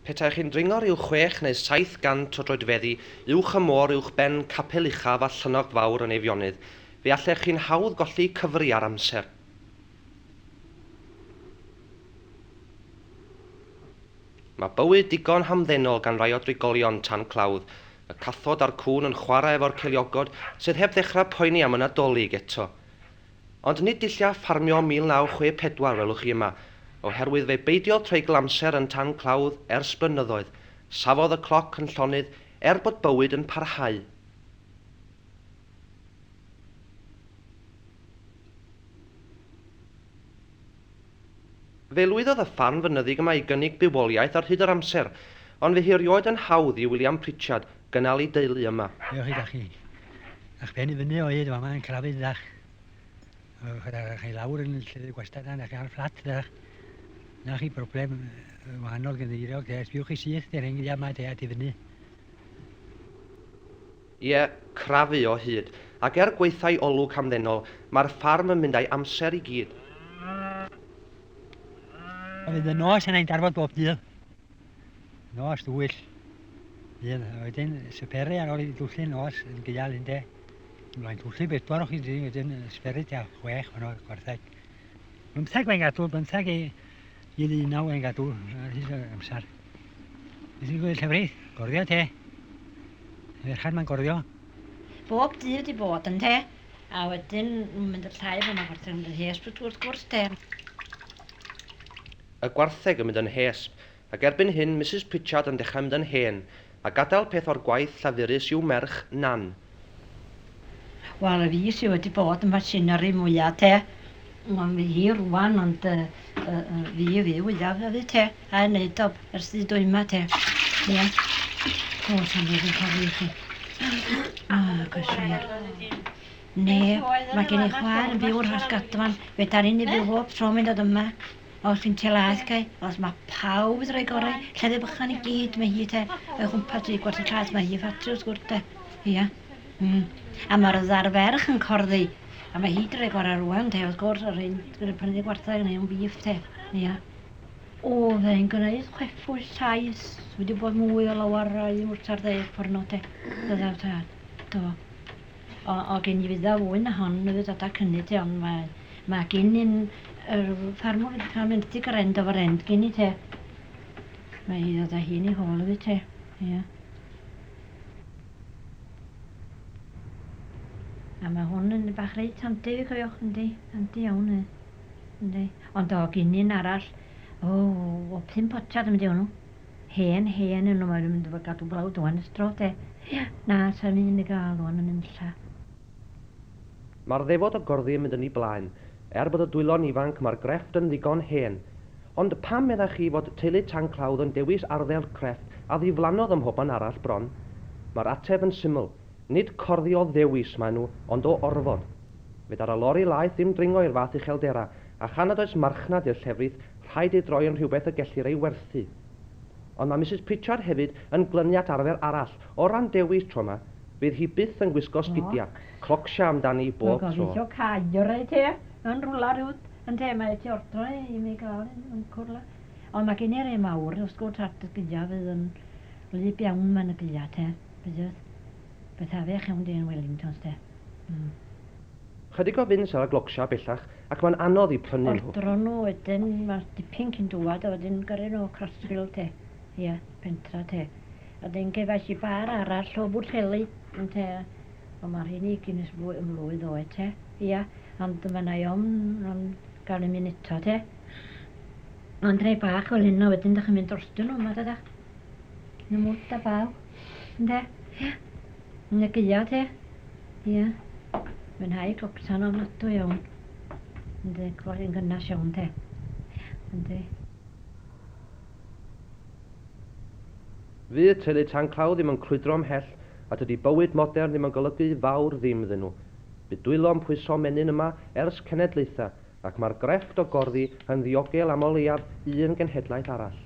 Petaech chi'n dringo rhyw chwech neu saith gant o droedfeddi uwch y môr uwchben Capel Uchaf a Llynnogt Fawr yn Eifionydd, fe allech chi'n hawdd golli cyfri ar amser. Mae bywyd digon hamddenol gan rai o drigolion tan clawdd, y cathod a'r cŵn yn chwarae efo'r ceiliogod sydd heb ddechrau poeni am y Nadolig eto. Ond nid dullia ffarmio 1964 welwch chi yma, oherwydd fe beidiodd treigl amser yn tan clawdd ers blynyddoedd, safodd y cloc yn llonydd er bod bywyd yn parhau. Fe lwyddodd y farn fynyddig yma i gynnig bywoliaeth ar hyd yr amser, ond fe hiriwyd yn hawdd i William Pritchard gynnal ei deulu yma. Ewch i gachu a'ch pen i fyny o hyd fama yn Crafydd dach. Ewch â chi i lawr yn y llyfr gwastad yna, dach chi ar y fflat dach. Na chi broblem wahanol gynddeiriog, de, sbiwch chi syth, de, rheng yma, de, at i fyny. Ie, crafu o hyd. Ac er gwaethau olwg hamddenol, mae'r ffarm yn mynd a'i amser i gyd. Oedd yn y nos yna i'n darfod bob dydd. Nos dwyll. Dydd. A wedyn syperu ar ôl i dwllu nos yn gyal un de. Mae'n dwllu bedwar o chi dyn wedyn syperu tua chwech fan o'r gwartheg. Bymtheg mae'n gadw, bymtheg i, i ddynaw mae'n gadw ar hyd amser. Nes i gweld llefrith, gorddio te. Ferchan mae'n gorddio. Bob dydd wedi bod yn te. A wedyn nhw'n mynd y llai fo mae'n gwartheg yn mynd yn hesb wrth gwrs te. Y gwartheg yn mynd yn hesb, ac erbyn hyn Misus Pritchard yn dechrau mynd yn hen, a gadael peth o'r gwaith llafurus i'w merch, Nan. Wel y fi sy wedi bod yn machinery mwya te. Wel fi hi rwan ond uh, uh, uh, fi fi wyaf fi te. A yn neud o ers di dwy ma te. Ie. Yeah. O, sy'n fod yn cael ei chi. O, cyswyr. Ne, mae gen i chwaer yn byw rhas gadwan. Fe dan ni'n ei byw bob tro mynd o dyma. Os yn te las cae, os mae pawb wedi rhoi gorau, lleddfu bychan i gyd, mae hi te, o'i chwmpas dri gwart y clas, mae hi i ffatri wrth gwrs te. Ia. Mm. A mae'r ddar ferch yn corddi, a mae hi wedi rhoi gorau rwan te, wrth gwrs, yr hyn wedi prynu gwarthau yn ei o'n bif te. Ia. Oedd e'n gwneud chwefus sais, wedi bod mwy o lawer i mwrtar ddeg pwrno te, ddyddau tad. Do. O o gyn i fydda fwy na hon mi fydd dada cynni ti ond mae mae gyn i'n yr ffarmwr wedi cael mynd i grend o frend gyn i te. Mae hi ddod â hi'n ei hôl iddi te. Ia. A mae hwn yn bach reit handi fi cofiwch yndi, handi iawn e. Yndi. Ond o gyn i'n arall, o, o pum potiad yn mynd i hwnnw. Hen hen yn ymwneud mynd efo gadw blawd ŵan ers dro de. Ia. Na, sai'm un i gael ŵan yn y nunlla. Mae'r ddefod o gorddi yn mynd yn ei blaen. Er bod y dwylo'n ifanc mae'r grefft yn ddigon hen. Ond pam meddach chi fod teulu Tanclawdd yn dewis arddel crefft a ddiflannodd ym mhobman arall bron? Mae'r ateb yn syml, nid corddi o ddewis maen nhw ond o orfod. Fedar y lori laeth ddim dringo i'r fath uchelderau A chan nad oes marchnad i'r llefrith, rhaid ei droi yn rhywbeth y gellir ei werthu. Ond mae Misus Pritchard hefyd yn glynu at arfer arall, o ran dewis, tro yma, fydd hi byth yn gwisgo sgidia, clocsha amdani bob tro. Dwi'n gobeithio cael rhai te, yn rwla rhyw, ynte, mae ti ordro e i mi gael un, yn cwrla. Ond mae gen i rei mawr, os gwrt at y sgidia fydd yn wlyb iawn mae'n y gilia te, bydd, byth afiach iawn di yn Wellingtons te. Mm. Chydig o fins ar y glogshar bellach ac mae'n anodd i prynu nhw. Ordro nhw wedyn ma dipyn cyn dwad a wedyn gyrru nhw o Crossfield te ia pentra te a wedyn gefais i bar arall o Bwllheli ynte ond ma rhein i gyn es fwy mlwydd oed te ia ond ma na i ofn am gael un eto te ond rhei bach fel hyn a wedyn dych chi'n mynd drostyn nhw yma dydach yn y mwd a baw ynde ia. Negia te. Ia. Mwynhau cloctan ofnadw iawn. Yndi, cloi yn gynnas iawn te. Yndi. Fydd teulu Tanclaw ddim yn crwydro ymhell, a dydy bywyd modern ddim yn golygu fawr ddim iddyn nhw. Bydd dwylo yn pwyso menyn yma ers cenedlaethau, Ac mae'r grefft o gorddi yn ddiogel am o leiaf un genhedlaeth arall.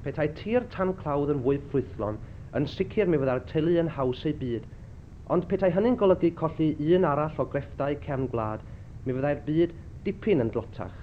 Petai tir tan clawdd yn fwy ffrwythlon, yn sicr mi fyddai'r teulu yn haws eu byd. Ond petai hynny'n golygu colli un arall o grefftau cefn gwlad, mi fyddai'r byd dipyn yn dlotach.